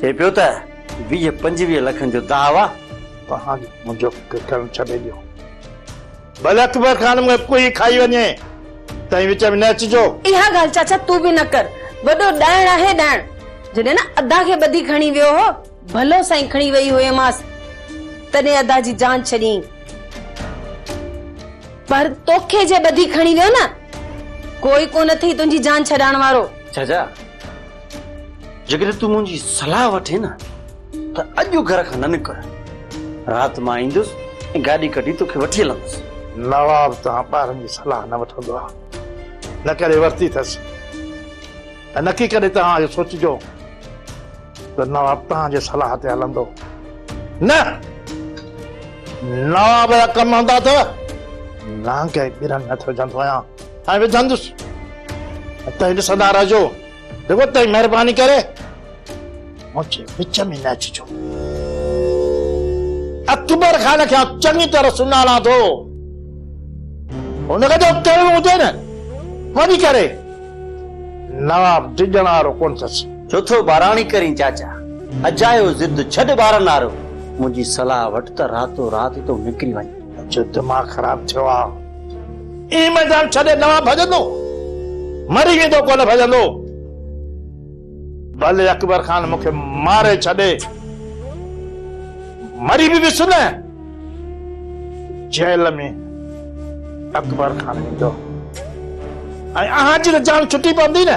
چئي پيو ته ويهه پنجويهه لکن جو داو آ. ته هاڻي منهنجو فڪر ڪرڻ ڇڏي ڏيو. ڀلي اڪبر خان مون کي ڪوهي ئي کائي وڃي. تائين وچ ۾ نه اچجو. اها ڳالهه چاچا تون به نه ڪر. وڏو ڏائڻ آهي ڏائڻ. جڏهن نه ادا کي ٻڌي کڻي ويو هو. ڀلو سائين کڻي ويئي هئيمانس. تڏهن ادا جي جان ڇڏيائين. پر توکي جي ٻڌي کڻي ويو نه. ڪوئي ڪونه اٿئي تنهنجي جان ڇڏائڻ وارو. چاچا. جيڪڏهن تون منهنجي صلاح وٺين نه ته اڄ گهر کان نه نڪر. رات مان ايندس ۽ گاڏي ڪڍي توکي وٺي هلندس. نواب تان ٻارن جي صلاح نه وٺندو آ، نه ڪڏهن ورتي اٿس ۽ نڪي ڪڏهن توهان اهو سوچجو ته نواب توهان جي صلاح تي هلندو. نه! نواب جا ڪم هوندا ته نانگ ۽ ٻرن هٿ وجهندو آهيان ۽ وجهندس ۽ توهين ڏسندا رهجو. بيگھت تائين مھرباني ڪري منھنجي وچ ۾ نه اچجو. اڪبر خان کي آئون چڱي طرح سڃاڻان ٿو. هن کي جو ڪرڻو هجي نه وڃي ڪري. نواب ڊڄڻ وارو ڪونه اٿس. ڇو ٿو ٻاراڻي ڪرين چاچا. اجايو ضد ڇڏ ٻارن وارو. منھنجي صلاح وٺ ته راتو رات تون نڪري وڃ. منھنجو دماغ خراب ٿيو آ. اي ميدان ڇڏي نوان ڀڄندو، مري ويندو ڪونه ڀڄندو. ڀلي اڪبر خان مون کي ماري ڇڏي، مري به ويس نه، جيل ۾ اڪبر خان ويندو ۽ اهانجي ته جان ڇٽي پوندي نه.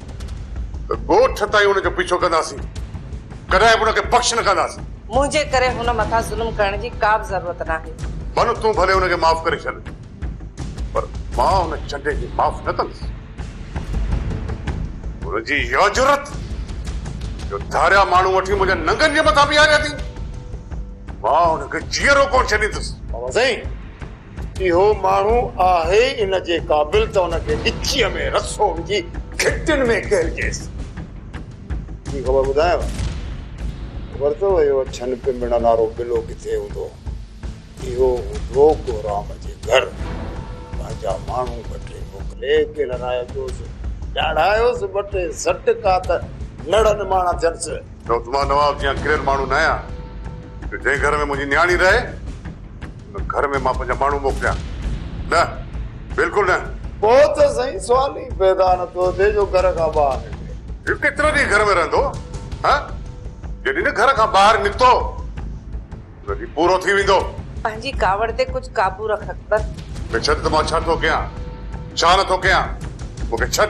ته ڳوٺ تائين هن جو پيڇو ڪنداسين. ڪڏهن به هن کي بخش نه ڪنداسين. منهنجي ڪري هن مٿان ظلم ڪرڻ جي ڪا به ضرورت ناهي. بنو تون ڀلي هن کي معاف ڪري ڇڏ پر مان هن چنڊي کي معاف نه ڪندس. هن جي اها جرئت جو ڌاريا ماڻهو وٺي منهنجن ننگن جي مٿان بيهاري اٿئي. مان هن کي جيئرو ڪونه ڇڏيندس. بابا سائين! اهو ماڻهو آهي ان جي قابل ته ان کي ڳچيء ۾ رسو وجهي گهٽين ۾ ڪيرجيس. ٻي خبر ٻڌايانء؟ خبر اٿو اهو اڇن پنبڻن وارو بلو ڪٿي هوندو؟ اهو هوندو ڪورام جي گهر. پنهنجا ماڻهو وٺي موڪلي ڪيلرائي پيوس. ڏاڙهايوس ٻه ٽي سٽڪا ته نڙ نماڻا ٿينس. چئوس مان نواب جيان ڪريل ماڻهو ناهيان جو جنهن گهر ۾ منهنجي نياڻي رهي. ته گهر ۾ مان پنهنجا ماڻهو موڪليان؟ نه! بلڪل نه! پوء ته سائين سوال ئي پيدا نه ٿو ٿئي جو گهر کان ٻاهر نڪري. هي ڪيترا ڏينهن گهر ۾ رهندو؟ ها؟ جڏهن نه گهر کان ٻاهر نڪتو ته هي پورو ٿي ويندو. پنهنجي ڪاوڙ تي ڪجهه قابو رک اڪبر. مون کي ڇڏ ته مان ڇا ٿو ڪيان؟ ڇا نه ٿو ڪيان؟ مون کي ڇڏ.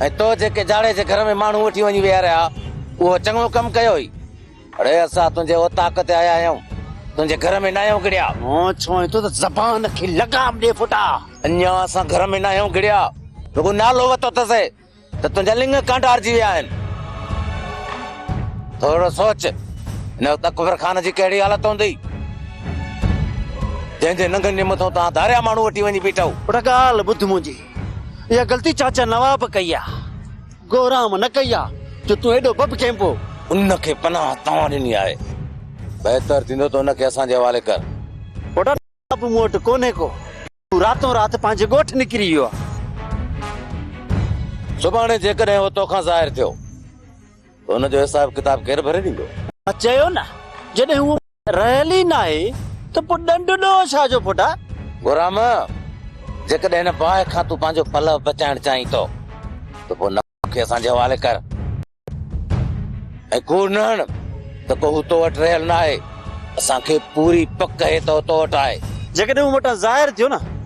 ۽ تو جيڪي جاڙي جي گهر ۾ ماڻهو وٺي وڃي ويهاريا، اهو چڱو ڪم ڪيو هئي. اڙي اسان تنهنجي اوطاق تي آيا آهيون، تنهنجي گهر ۾ ناهيون گهڙيا. هون چوين ٿو ته زبان کي لغام ڏي ڦٽا. اڃا اسان گهر ۾ ناهيون گهڙيا، رڳو نالو وتو اٿسي ته تنهنجا لڱ ڪانڊارجي ويا آهن. ٿورڙو سوچ، هن وقت اڪبر خان جي ڪهڙي حالت هوندي، جنهن جي ننگن جي مٿون توهان ڌاريا ماڻهو وٺي وڃي بيٺئو. پٽ ڳالهه ٻڌ منهنجي، اها غلطي چاچا نواب ڪئي آ، گورام نه ڪئي آ، جو تون ايڏو بب ڪينبو. ان کي پناهه توهان ڏني آهي، بهتر ٿيندو ته ان کي اسان جي حوالي ڪر. پوٽا نواب مون وٽ ڪونهي ڪو، هو راتون رات پنهنجي ڳوٺ نڪري ويو آ. سڀاڻي جيڪڏهن هو توکان ظاهر ٿيو ته ان جو حساب ڪتاب ڪير ڀري ڏيندو؟ مان چيو نه، جڏهن هو. رهيل ئي ناهي ته پوء ڏنڊ ڏوهه ڇا جو ڦٽاء. گهرام! جيڪڏهن هن باهه کان تون پنهنجو پلئه بچائڻ چاهين ٿو ته پوء نماء کي اسان جي حوالي ڪر ۽ ڪوڙ نه هڻ ته ڪو هو تو وٽ رهيل ناهي. اسان کي پوري پڪ هي ته هو تو وٽ آهي. جيڪڏهن هو مون وٽان ظاهر ٿيو نه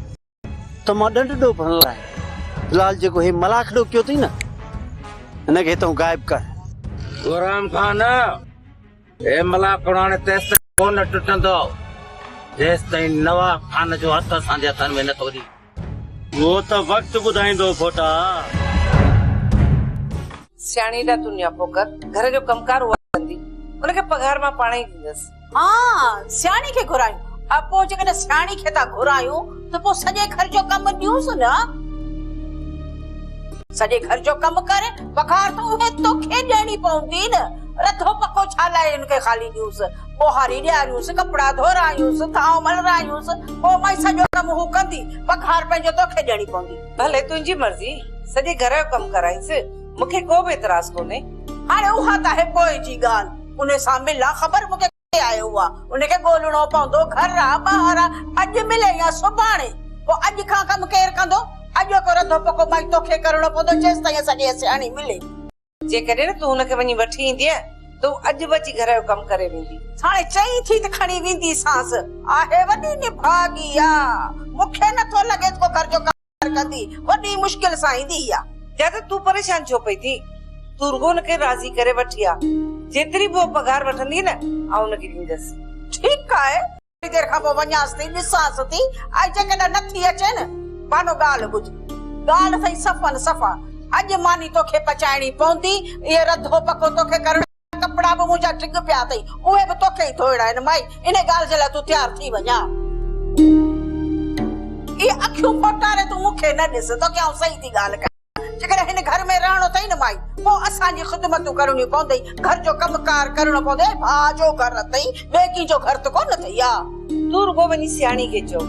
ته مان ڏنڊ ڏو ڀڻ لاء لال جيڪو هي ملاکڙو ڪيو اٿئي نه هن کي هتئون غائب ڪر. غرام خان هي ملاکڙو هاڻي تيستائين ڪونه ٽٽندو جيستائين نواب خان جو هٿ اسان جي هٿن ۾ نه ٿو اچي. اهو ته وقت ٻڌائيندو ڦوٽا. سياڻي ڏا تون نياپو ڪر گهر جو ڪم ڪار اها ڪندي ان کي پگهار مان پاڻهئي ڏيندس. ها سياڻي کي گهرايون. ها پوء جيڪڏهن سياڻي کي ٿا گهرايون ته پوء سڄي گهر جو ڪم ڏيونس نه. سڄي گهر جو ڪم ڪر بخار ته اهي توکي ڏيڻي پوندي نه. رڌو پڪو ڇا لاء ان کي خالي ڏيونس. ٻوهاري ڏياريونس، ڪپڙا ڌورايونس، ٿانء ملرايونس، پوء مئي سڄو ڪم هو ڪندي، بخار پنهنجو توکي ڏيڻي پوندي. ڀلي تنهنجي مرضي، سڄي گهر جو ڪم ڪرائينس، مون کي ڪو به اعتراض ڪونهي. هاڻي اها ته آهي پوء جي ڳالهه. انهي سان ملان خبر مون کي ڪٿي آهي اها ان کي ڳولهڻو پوندو گهر آ ٻاهر آ اڄ ملي يا سڀاڻي پوء اڄ کان ڪم ڪير ڪندو اڄوڪو رڌو پڪو مائي توکي ڪرڻو پوندو جيستائين اسان جي اها سياڻي ملي. جيڪڏهن تون ان کي وڃي وٺي ايندينء ته هو اڄ به اچي گهر جو ڪم ڪري ويندي. ساڻي چئين ٿي ته کڻي وينديسانس. آهي وڏي نڀاڳي آ مون کي نٿو لڳي ته ڪو گهر جو ڪم. ڪندي وڏي مشڪل سان ايندي هئا. دادا تون پريشان ڇو پئي ٿين؟ تون رڳو هن کي راضي ڪري وٺ هاء. جيتري به هوء پگهار وٺندي نه آئون هن کي ڏيندس. ٺيڪ آهي. ٿوري دير کان پوء وڃانس ٿي، ڏسانس ٿي ۽ جيڪڏهن نه ٿي اچي نه بانو ڳالهه ٻڌ. ڳالهه اٿئي صفن صفا. اڄ ماني توکي پچائڻي پوندي. اهو رڌو پڪو توکي ڪرڻو. ڪپڙا به منهنجا ڊگهه پيا اٿئي، اهي به توکي ئي ڌوئڻا آهن، مائي، انهيء ڳالهه جي لاء تون تيار ٿي وڃ ها. اهي اکيون ڦوٽاري تون مون کي نه ڏس، توکي آئون صحيح ٿي ڳالهه ڪيان. جيڪڏهن هن گهر ۾ رهڻو اٿئي نه مائي، پوء اسان جي خدمتون ڪرڻيون پوندئي، گهر جو ڪم ڪار ڪرڻو پوندئي ۽ ڀاء جو گهر اٿئي، ٻئي ڪنهن جو گهر ته ڪونه اٿئي ها. تون رڳو وڃي سياڻي کي چئو.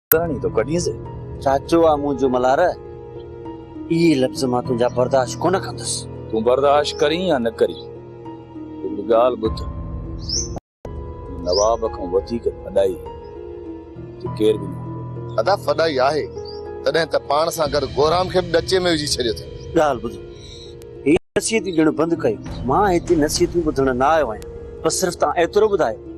ڪرڻي ٿو ڪڍين سي. ساچو آ منهنجو ملهار اهي لفظ مان تنهنجا برداشت ڪونه ڪندس. تون برداشت ڪرين يا نه ڪرين هڪ ڳالهه ٻڌ هن نواب کان وڌيڪ فدائي هتي ڪير به نه هوندو. ادا فدائي آهي تڏهن ته پاڻ سان گڏ گورام کي به ڏچي ۾ وجهي ڇڏيو اٿئي. ڳالهه ٻڌ هي نصيحتي ڏيڻ بند ڪيو مان هتي نصيحتيون ٻڌڻ نه آيو آهيان بس صرف تان ايترو ٻڌايو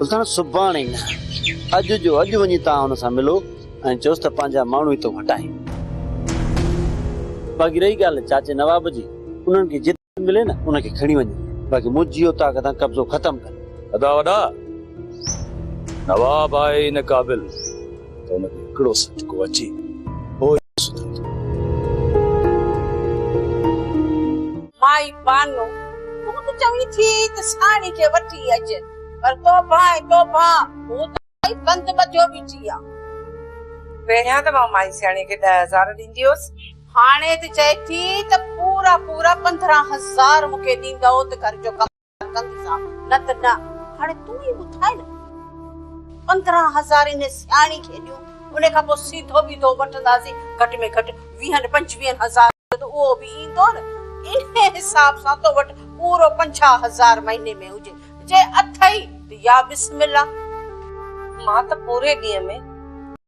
سلطان سڀاڻي نه اڄ جو اڄ وڃي توهان هن سان ملو ۽ چوس ته پنهنجا ماڻهو هتو هٽائين. باقي رهي ڳالهه چاچي نواب جي انهن کي جت ملي نه ان کي کڻي وڃي باقي منهنجي اوطاق تان قبضو ختم ڪن. ادا وڏا نواب آهي نه قابل. ته ان کي هڪڙو سٽڪو اچي پوء ئي سڌو ٿيو. مائي بانو، تون ته چوين ٿي ته ساڻي کي وٺي اچ، پر توبه ۽ توبه، هو ته مائي بند ٻڌيو بيٺي آ. پهريان ته مان مائي سياڻيء کي ڏهه هزار ڏيندي هيس. هاڻي ته چئي ٿي ته پورا پورا پندرهن هزار مون کي ڏيندئو ته گهر جو ڪم. ڪندي سان، نه ته نه، هاڻي تون ئي ٻڌاء نه. پندرهن هزار انهي سياڻي کي ڏيون، انهي کان پوء سيڌو بيڌو وٺنداسين، گهٽ ۾ گهٽ ويهن پنجويهن هزار جو ته اهو به ايندو نه، انهي حساب سان تو وٽ پورو پنجاهه هزار مهيني ۾ هجي، جي اٿئي ته يا بسم الله. مان ته پوري ڏينهن ۾.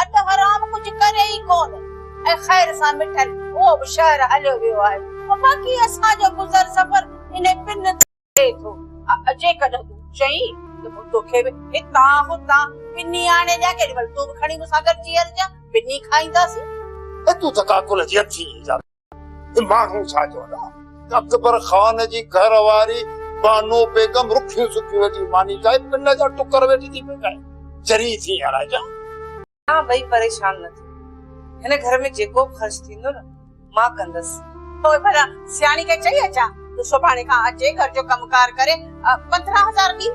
اڌ حرام ڪجهه ڪري ئي ڪونه ۽ خير سان مٺل اهو به شهر هليو ويو آهي ته باقي اسان جو گذر سفر انهي پن تي هلي ٿو. جيڪڏهن تون چئين ته مون توکي به هتان هتان پني آڻي ڏيان ڪيڏي مهل تون به کڻي مون سان گڏجي هلجان پني کائينداسين. ته تون ته ڪاڪل جي هٿين ئي جاڳ. ته ماڻهو ڇا چوندا؟ اڪبر خان جي گهر واري بانو بيگم رکيون سکيون جي ماني کائي پن جا ٽڪر ويٺي ٿي پڪائي. چري ٿي يا راجا؟ توهان ٻئي پريشان نه ٿيو. هن گهر ۾ جيڪو به خرچ ٿيندو نه مان ڪندس. پوء ڀلا سياڻي کي چئي اچان ته سڀاڻي کان اچي گهر جو ڪم ڪار ڪري پندرهن هزار ڏي.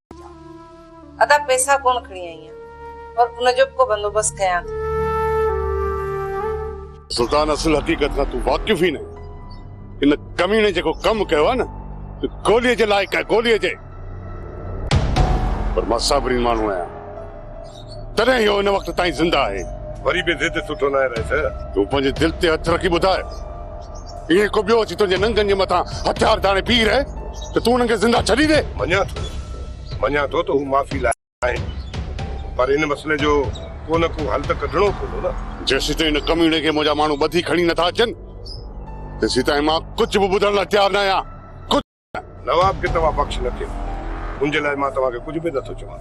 ٿا. ادا پئسا ڪونه کڻي آئي آهيان پر ان جو به ڪو بندوبست ڪيان ٿي. سلطان اصل حقيقت کان تون واقف ئي ناهين. ان ڪميڻي جيڪو ڪم ڪيو آهي نه سو گوليء جي لائق آهي، گوليء جي. پر مان صابرين ماڻهو آهيان. تڏهن اهو ان وقت تائين زنده آهي. وري به ضد سٺو ناهي رئيس. تون پنهنجي دل تي هٿ رکي ٻڌاء. ائين ڪو ٻيو اچي تنهنجي ننگن جي مٿان هٿيار ڌاڻي بيهي رهي ته تون انهن کي زنده ڇڏيندين؟ مڃان ٿو. مڃان ٿو ته هو معافي لاء آهن. پر ان مسئلي جو ڪو نه ڪو حل ته ڪڍڻو پوندو نه. جيسيتائين ان ڪميڻي کي منهنجا ماڻهو ٻڌي کڻي نٿا اچن، تيسيتائين مان ڪجهه به ٻڌڻ لاء تيار ناهيان. نواب کي توهان بخش نه ٿيو، ان جي لاء مان توهان کي ڪجهه به نه ٿو چوان.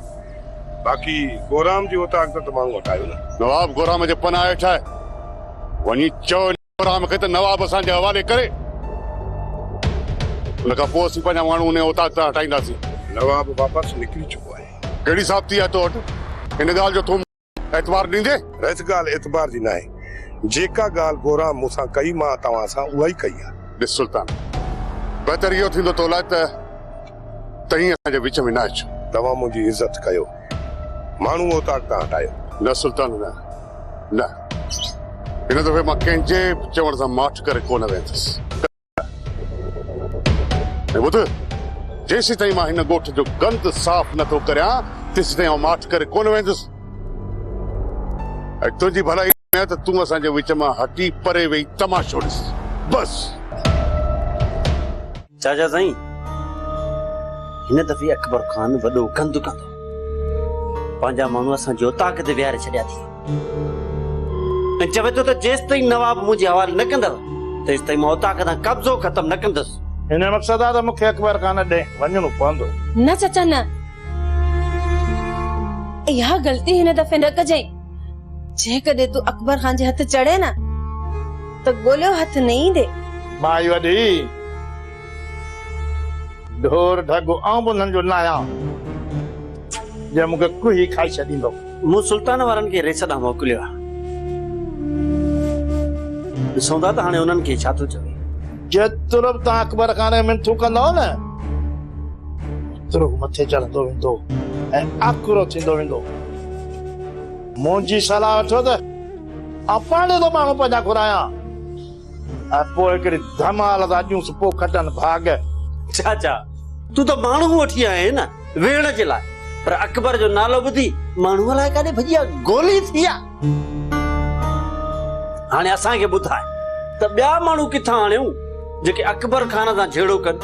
باقي ڪورام جي اوطاق تان ته ماڻهو هٽايو نه. نواب ڪورام جي پناهه هيٺ آهي. وڃي چئو ان ڪورام کي ته نواب اسان جي حوالي ڪري. ان کان پوء اسين پنهنجا ماڻهو ان اوطاق تان هٽائينداسين. نواب واپس نڪري چڪو آهي. ڪهڙي ثابتي آهي تو وٽ ان ڳالهه جو تون. اعتبار ڏيندي؟ رئيس ڳالهه اعتبار جي ناهي. جيڪا ڳالهه گوران مون سان ڪئي مان توهان سان اها ئي ڪئي آهي. ڏس سلطان! بهتر اهو ٿيندو تو لاء ته تئين اسان جي وچ ۾ نه اچ. توهان منهنجي عزت ڪيو. ماڻهو اوطاق تان هٽايو. نه سلطان نه. نه. هن دفعي مان ڪنهن جي به چوڻ سان ماٺ ڪري ڪو نه ويندس. هي ٻڌ، جيسيتائين مان هن ڳوٺ جو گند صاف نه ٿو ڪريان، تيسيتائين آئون ماٺ ڪري ڪونه ويندس. ۽ تنهنجي ڀلائي ۾ آهي ته تون اسان جي وچ مان هٽي پري ويهي تماشو ڏس. بس! چاچا سائين، هن دفعي اڪبر خان وڏو گند ڪندو. پنهنجا ماڻهو اسان جي اوطاق تي ويهاري ڇڏيا اٿيئي. ۽ چوي ٿو ته جيستائين نواب مون جي حوالي نه ڪندؤ، تيستائين مان اوطاق تان قبضو ختم نه ڪندس. ان مقصد آ ته مون کي اڪبر خان ڏي وڃڻو پوندو. نه چچا نه. اها غلطي هن دفعي نه ڪجئين. جيڪڏهن تون اڪبر خان جي هٿ چڙهين نه ته ڳوليو هٿ نه ايندي. مائي وڏي، ڍور ڍڳو آئون به انهن جو ناهيان، جي مون کي ڪوهي کائي ڇڏيندو. مون سلطان وارن کي ريس ڏانهن موڪليو آهي. ڏسون ٿا ته هاڻي انهن کي ڇا ٿو چوي. جي ترب تان اڪبر کان ري منٿون ڪندؤ نه ترب مٿي چڙهندو ويندو ۽ آڪرو ٿيندو ويندو. منهنجي صلاح وٺو ته آئون پاڙي تان ماڻهو پنهنجا گهرايان. ۽ پوء هڪڙي ڌمال تان اچون سو پوء کٽن ڀاڳ. چاچا! تون ته ماڻهو وٺي آئين نه ويهڻ جي لاء پر اڪبر جو نالو ٻڌي ماڻهو الائي ڪاڏي ڀڄي ويا، گولي ٿي ويا. هاڻي اسان کي ٻڌاء ته ٻيا ماڻهو ڪٿان آڻيون جيڪي اڪبر خان سان جهيڙو ڪن.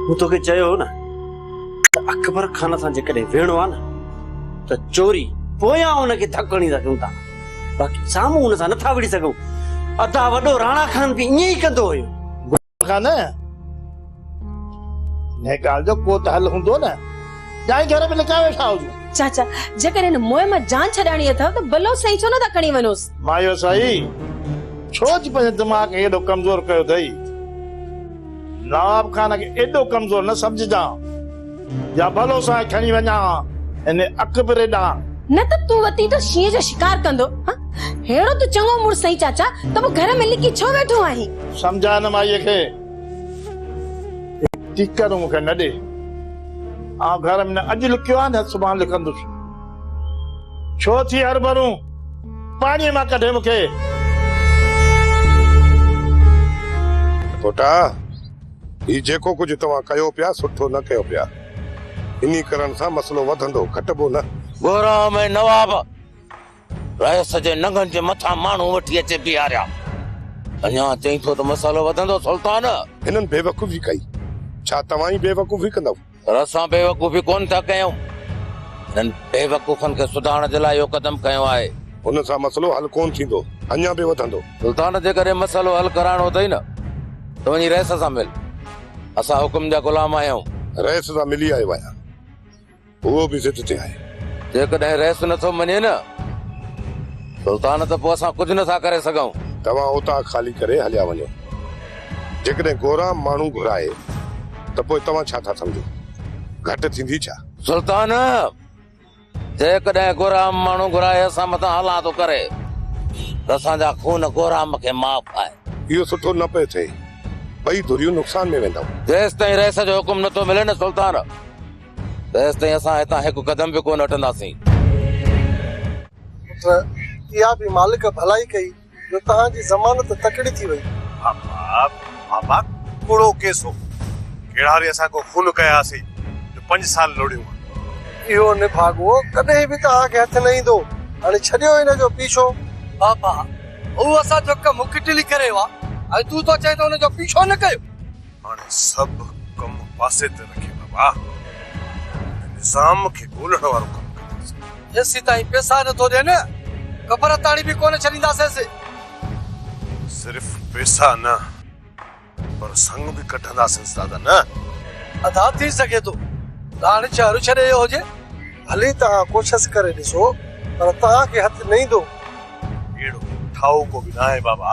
مون توکي چيو هو نه ته اڪبر خان سان جيڪڏهن ويهڻو آهي نه ته چوري پويان ان کي ڌڪ هڻيندا ڪيون ٿا. باقي سامهون ان سان نه ٿا وڙهي سگهون. ادا وڏو راڻا خان به ائين ئي ڪندو هيو. گل خان انهيء ڳالهه جو ڪو ته حل هوندو نه؟ جانئين گهر ۾ لڪائي ويٺا هجون. چاچا جيڪڏهن هن موهه مان جان ڇڏائڻي اٿئو ته بلوچ سائين ڇو نه ٿا کڻي وڃوس؟ مايو سائي ڇو ٿي پنهنجي دماغ کي ايڏو ڪمزور ڪيو اٿئي. نواب خان کي ايڏو ڪمزور نه سمجهجان. يا ڀلو سان کڻي وڃان ها ان اڪبري ڏانهن. نه ته تون وتي ته شينهن جو شڪار ڪندو هان. ههڙو ته چڱو مڙس آهين چاچا ته پوء گهر ۾ لڪي ڇو ويٺو آهين. سمجهاء هن مائيء کي. هڪ ٽيڪر مون کي نه ڏي. آئون گهر ۾ نه اڄ لڪيو آهيان نه سڀاڻ لڪندس. ڇو ٿي هر ڀرون پاڻيء مان ڪڍي مون کي. پٽا! هي جيڪو ڪجهه توهان ڪيو پيا سٺو نه ڪيو پيا. انهي ڪرڻ سان مسئلو وڌندو گهٽبو نه. گهرام ۽ نواب رئيس جي ننگن جي مٿان ماڻهو وٺي اچي بيهاريا. اڃا چئين ٿو ته مسئلو وڌندو سلطان. هنن بيوقوفي ڪئي. ڇا توهان ئي بيوقوفي ڪندؤ. پر اسان بيوقوفي ڪونه ٿا ڪيون، هنن بيوقوفن کي سڌارڻ جي لاء اهو قدم کنيو آهي. ان سان مسئلو حل ڪونه ٿيندو، اڃا به وڌندو. سلطان جيڪڏهن مسئلو حل ڪرائڻو اٿئي نه ته وڃي رئيس سان مل، اسان حڪم جا غلام آهيون. رئيس سان ملي آيو آهيان، اهو به ضد تي آهي. جيڪڏهن رئيس نه ٿو مڃي نه سلطان ته پوء اسان ڪجهه نه ٿا ڪري سگهون. توهان اوطاق خالي ڪري هليا وڃو. جيڪڏهن گورا ماڻهو گهرائي ته پوء توهان ڇا ٿا سمجهو؟ گهٽ ٿيندي ڇا؟ سلطان! جيڪڏهن گورا ماڻهو گهرائي اسان مٿان هلان ٿو ڪري ته اسان جا خون گورا م کي معاف آهن. اهو سٺو نه پئي ٿئي. ٻئي ڌريون نقصان ۾ ويندائون. جيستائين رئيس جو حڪم نٿو ملي نه سلطان، تيستائين اسان هتان هڪ قدم به ڪونه هٽنداسين. پٽ! اها به مالڪ ڀلائي ڪئي. جو توهان جي ضمانت تڪڙي ٿي وئي. بابا ڪوڙو ڪيس هو. ڪهڙا وري اسان ڪو خون ڪيا هئاسين جو پنج سال لوڙيون ها. اهو نڀاڳو ڪڏهن به توهان کي هٿ نه ايندو. هاڻي ڇڏيو هن جو پيڇو. بابا هو اسان جو ڪم ڪٽلي ڪري ويو آهي ۽ تون ٿو چئين ته هن جو پيڇو نه ڪيو. هاڻي سڀ ڪم پاسي تي رکي بابا هن نظام کي ڳولڻ وارو ڪم ڪنداسين. جيسيتائين پيسا نٿو ڏين قبر تائڻي به ڪونه ڇڏينداسينس. صرف پيسا نه پر سڱ به ڪڍنداسينس دادا نه. ادا ٿي سگهي ٿو ته هاڻي شهر ڇڏي ايو هجي. ڀلي توهان ڪوشس ڪري ڏسو پر توهان کي هٿ نه ايندو. اهڙو ٺاهوڪو به ناهي بابا.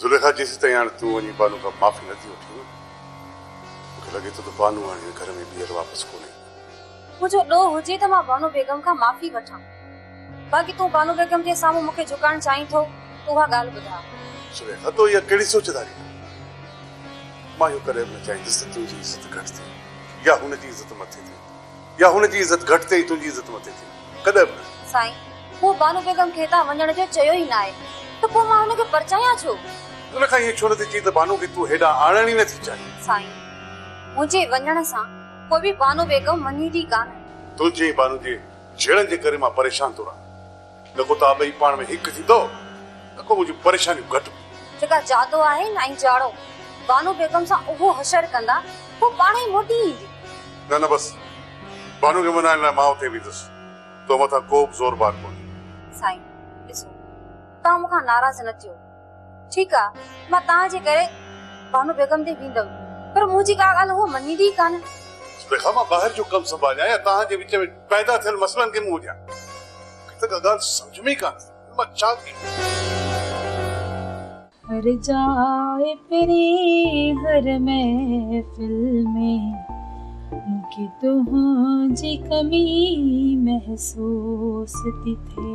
زليخا، جيسيتائين هاڻي تون وڃي بانو کان معافي نه ٿي وٺين، مون کي لڳي ٿو ته بانو هاڻي هن گهر ۾ ٻيهر واپس ڪونه ايندي. منهنجو ڏوهه هجي ته مان بانو بيگم کان معافي وٺان، باقي تون بانو بيگم جي سامهون مون کي جهڪائڻ چاهين ٿو ته اها ڳالهه ٻڌاء. زليخا، تو اها ڪهڙي سوچ ڌاري ڪئي؟ مان اهو ڪڏهن به نه چاهيندس ته تنهنجي عزت گهٽ ٿئي يا هن جي عزت مٿي ٿئي. يا هن جي عزت گهٽ ٿئي تنهنجي عزت مٿي ٿئي ڪڏهن به نه. سائين هو بانو بيگم کي هتان وڃڻ جو چيو ئي ناهي ته پوء مان هن کي پرچايان ڇو؟ ان کان ائين ڇو نٿي چئين ته بانو کي تون هيڏانهن آڻڻ ئي نٿي چاهين؟ سائين منهنجي وڃڻ سان ڪو به بانو بيگم وڃي ٿي ڪانه. تنهنجي ۽ بانو جي جهيڙن جي ڪري مان پريشان ٿو رهان. نه ڪو توهان ٻئي پاڻ ۾ هڪ ٿيندؤ، نه ڪو منهنجون پريشانيون گهٽ. جيڪا جادو آهي نائين جاڙو. بانو بيگم سان اهو حشر ڪندا، هوء پاڻهئي موٽي ايندي. نه نه بس. بانو کي منائڻ لاء مان اتي ويندس. تو مٿان ڪوبه زور بار ڪونهي. سائين ڏسو، توهان مون کان ناراض نه ٿيو. ٺيڪ آ، مان توهان جي ڪري بانو بيگم ڏي ويندم، پر مون جي ڪا ڳالهه هوء مڃيندي ئي ڪانه. تنهن کان مان ٻاهر جو ڪم سنڀاليان يا توهان جي وچ ۾ پيدا ٿيل مسئلن کي منهن ڏيان؟ مون کي ته ڪا ڳالهه سمجهه ۾ ئي ڪانه ايندي ته مان ڇا ڪيان؟ هر جاء پري هر محفل ۾ مون کي تنهنجي ڪمي محسوس ٿي ٿئي.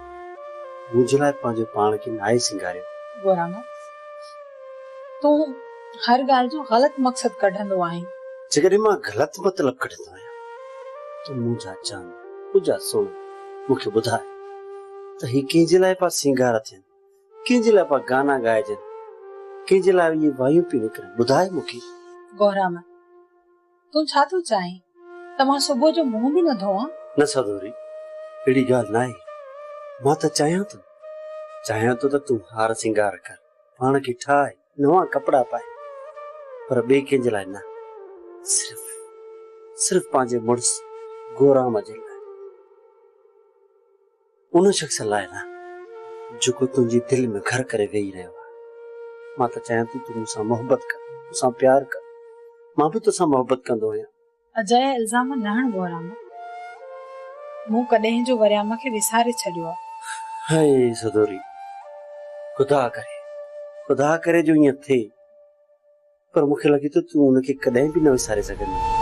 منهنجي لاء پنهنجو پاڻ کي ناهي سينگاريو. گورانا، تون هر ڳالهه جو غلط مقصد ڪڍندو آهين. جيڪڏهن مان غلط مطلب ڪڍندو آهيان ته منهنجا جان، منهنجا سوڻا، مون کي ٻڌاء ته هي ڪنهن جي لاء پيا سينگار ٿين، ڪنهن جي لاء پيا گانا ڳائجن، ڪنهن جي لاء اهي وايون پيون نڪرن، ٻڌاء مون کي. گورانا، تون ڇا ٿو چاهين ته مان صبح جو منهن به نه ڌوئان؟ نه سدوري، اهڙي ڳالهه ناهي. مان ته چاهيان ٿو، چاهيان ٿو ته تون هار سينگار ڪر، پاڻ کي ٺاهه، نوان ڪپڙا پائي، پر ٻئي ڪنهن جي لاء نه، صرف، صرف پنهنجي مڙس گورام جي لاء. ان شخص لاء نه جيڪو تنهنجي دل ۾ گهر ڪري ويهي رهيو آهي. مان ته چاهيان ٿو تون مون سان محبت ڪر، مون سان پيار ڪر. مان به توسان محبت ڪندو آهيان. اجايا الزام نه هڻ بهرام. مون ڪڏهن جو وريام کي وساري ڇڏيو آهي. هاء سدوري، خدا ڪري، خدا ڪري جو ائين ٿئي. پر مون کي لڳي ٿو تون ان کي ڪڏهن به نه وساري سگهندينء.